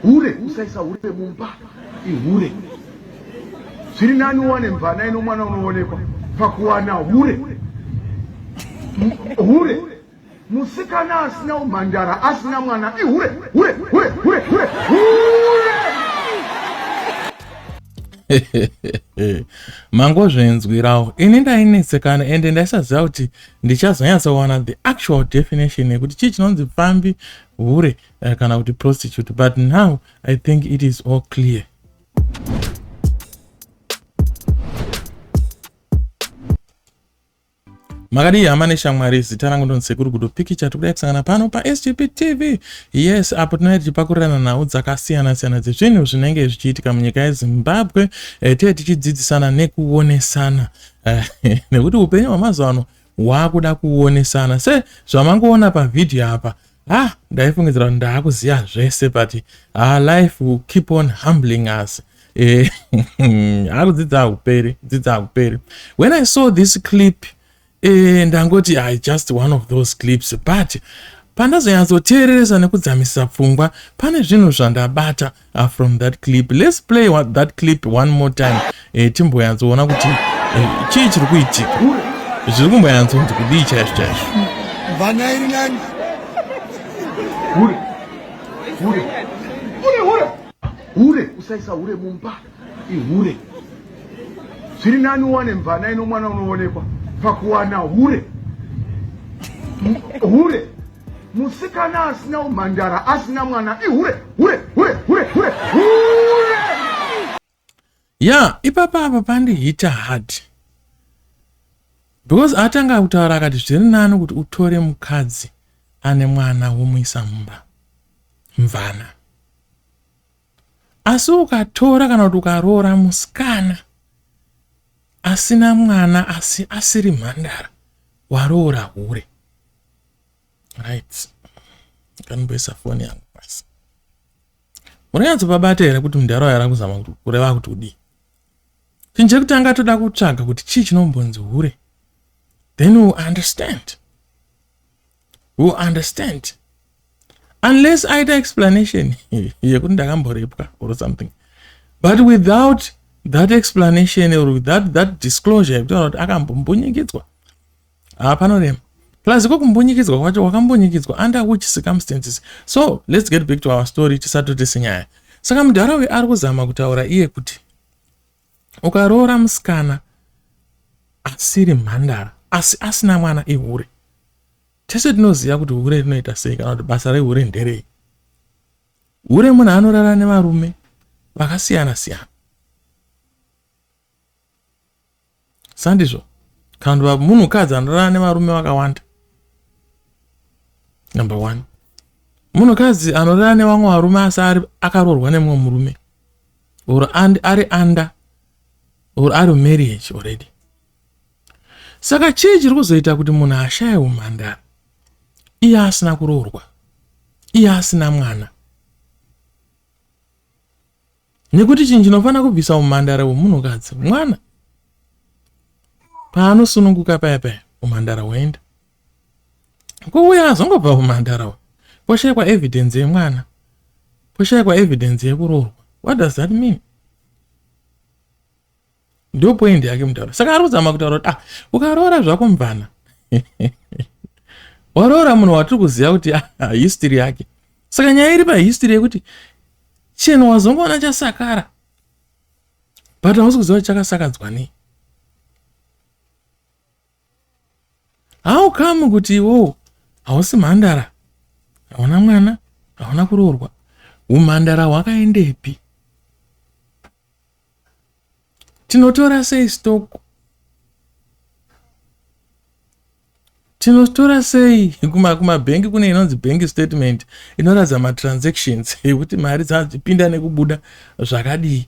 Hure usaisa hure mumba ihure. Zviri nani uwane mvana ino mwana unoonekwa pakuwana hure. Hure musikana asina umhandara asina mwana ihure hure hure hure hure hure. mangozvinzwirawo ini ndainetsekana ende ndaisaziva kuti ndichazonyatsowana the actual definition yekuti chii chinonzi pfambi hure uh, kana kuti prostitute but now i think it is all clear makadii hama neshamwari zita rangu ndonsekuru gudo pikicha tikudai kusangana pano pasgp tv yes apo tinai tichipakurirana nhau dzakasiyana-siyana dzezvinhu zvinenge zvichiitika munyika yezimbabwe eh, tee tichidzidzisana nekuonesana eh, nekuti upenyu hwamazuva ano waakuda kuonesana se zvamangoona pavhidhiyo apa ah ndaifungidzira kuti ndaakuziva zvese but ah, life will keep on humbling us eh, akudzidza akuperi dzidza akuperi when i saw this clip eh, ndangoti i just one of those clips but pandazonyatsoteereresa nekudzamisisa pfungwa pane zvinhu zvandabata uh, from that clip let's play one, that clip one more time eh, timboyatsoona kuti eh, chii chiri kuitika zviri kumboyantsonzi kudii chaizvo chaizvo hure usaisa hure mumba ihure zviri nani uwane mvana ino mwana unoonekwa pakuwana hure hure Musikana asina umhandara asina mwana ihure hure hure hure hure hure. Yeah, ipapa apa pandi hit hard. Because atanga kutaura akati zviri nani kuti utore mukadzi ane mwana womuisa mumba. Mvana. Asi ukatora kana kuti ukaroora musikana asina mwana asi asiri mhandara waroora hure right kanimboisa foni yangu pasi munonyatso pabata here kuti mudhara wayo arakuzama kuti kureva kuti udii chinhu chekutanga toda kutsvaga kuti chii chinombonzi hure then u understand will understand unless aita explanation yekuti ndakamborepwa or something but without that explanation or without that disclosure yekutaura kuti akambombunyikidzwa haa panorema plus ko kumbunyikidzwa kwacho wakambunyikidzwa under which circumstances so let's get back to our story tisatotese nyaya saka mudhara uyu ari kuzama kutaura iye kuti Ukaroora musikana asiri mhandara asi asina mwana ihure. Tese tinoziva kuti hure rinoita sei kana kuti basa rehure nderei. Hure munhu anorara nevarume vakasiyana siyana. sandizvo kandiva munhukadzi anorara nevarume vakawanda number one munhukadzi anorara nevamwe varume asi ari akaroorwa nemumwe murume or ari under or ari marriage already saka chii chiri kuzoita kuti munhu ashaye umhandara iye asina kuroorwa iye asina mwana Nekuti chinhu chinofanira kubvisa umhandara hwemunhukadzi mwana paanosununguka paya paya umhandara hwoenda kuuya azongobva umhandara hwo poshaikwa evidence yemwana poshaikwa evidence yekuroorwa what does that mean Ndo point yake mutauro. Saka ari kuzama kutaura kuti ah ukaroora zvako mvana. Waroora munhu watiri kuziva kuti ah, ah, history yake. Saka nyaya iri pa history yekuti chinhu wazongoona chasakara. But hausi kuziva kuti chakasakadzwa nei. How come kuti iwowo hausi mhandara? Hauna mwana, hauna kuroorwa. Umhandara hwakaendepi? tinotora sei stock tinotora sei kumabhengi kune inonzi bank statement inoratidza matransactions ekuti mari dzapinda nekubuda zvakadii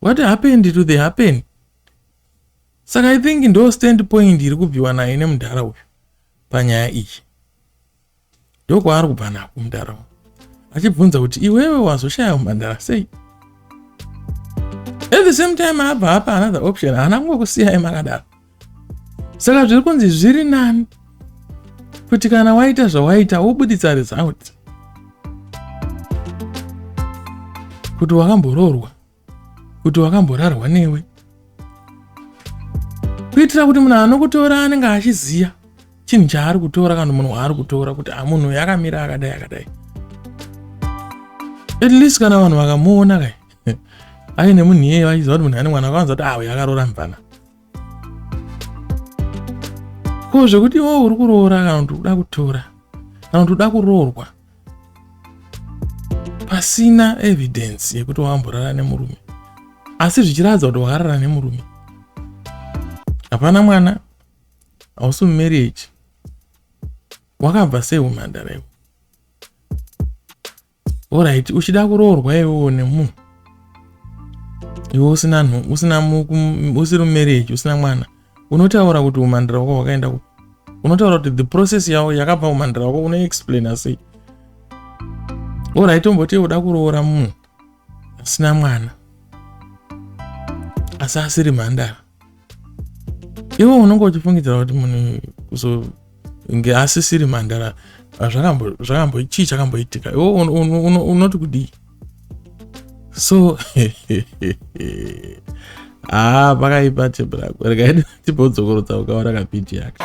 What happened to the happen? Saka I think ndo stand point iri kubviwa nayo nemudhara uyu panyaya iyi. Ndokwaari kubva nako mudhara uyu. Achibvunza kuti iwewe wazoshaya mhandara sei? At the same time abva apa another option haana kungokusiyai makadaro. saka zviri kunzi zviri nani kuti kana waita zvawaita wobuditsa result kuti wakamboroorwa kuti wakamborarwa newe kuitira kuti munhu anokutora anenge achiziva chinhu chaari kutora kana munhu waari kutora kuti amunhu ah, yakamira akadai akadai at least kana vanhu vakamuona kai aine munhu iyeye vachiziva kuti munhu ane mwana vakawanza kuti awe ah, akaroora mvana ko zvekuti iwewe uri kuroora kana kuti uda kutora kana kuti uda kuroorwa pasina evidence yekuti wamborara nemurume asi zvichiratidza kuti wakarara nemurume hapana mwana hausi mumarriage wakabva sei umhandara iwe Alright, uchida kuroorwa iwewo nemunhu iwe usina nhu usina usiri mumarriage usina mwana unotaura kuti umhandira wako hwakaenda ku unotaura kuti the process yavo yakabva umhandira wako unoexplaina sei orit omboti uda kuroora munhu asina mwana asi asiri mhandara iwe unenge uchifungidzira kuti munhu kuzonge asisiri mhandara ah, zvakambo chii chakamboitika iwe unoti kudii so haa ah, pakaipa chebrakwerekaidi chibodzokorodza ukaona kapiti yake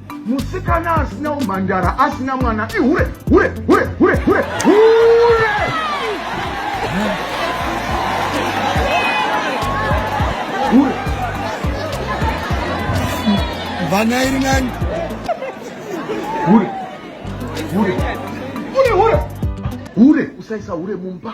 Musikana asina umhandara asina mwana ihure hure hure hure hure hure. Hure. Vana iri nani? Hure. Hure. Hure hure. Hure usaisa hure mumba.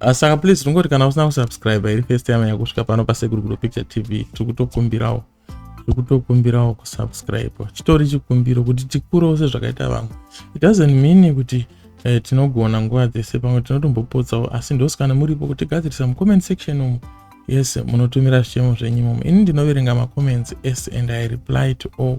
Ah, saka please tingoti kana usina kusubscribe iri first time yakusvika pano pasekuru kudo picture tv tiri kutokumbirawo tiri kutokumbirawo kusubscribe chitori chikumbiro kuti tikurewo sezvakaita vamwe it doesn't mean kuti eh, tinogona nguva dzese pamwe tinotombopotsawo asi ndosi kana muripo kuti gadzirisa mucomment section umu yes munotumira zvichemo zvenyu imomo ini ndinoverenga macomments ese and i reply to all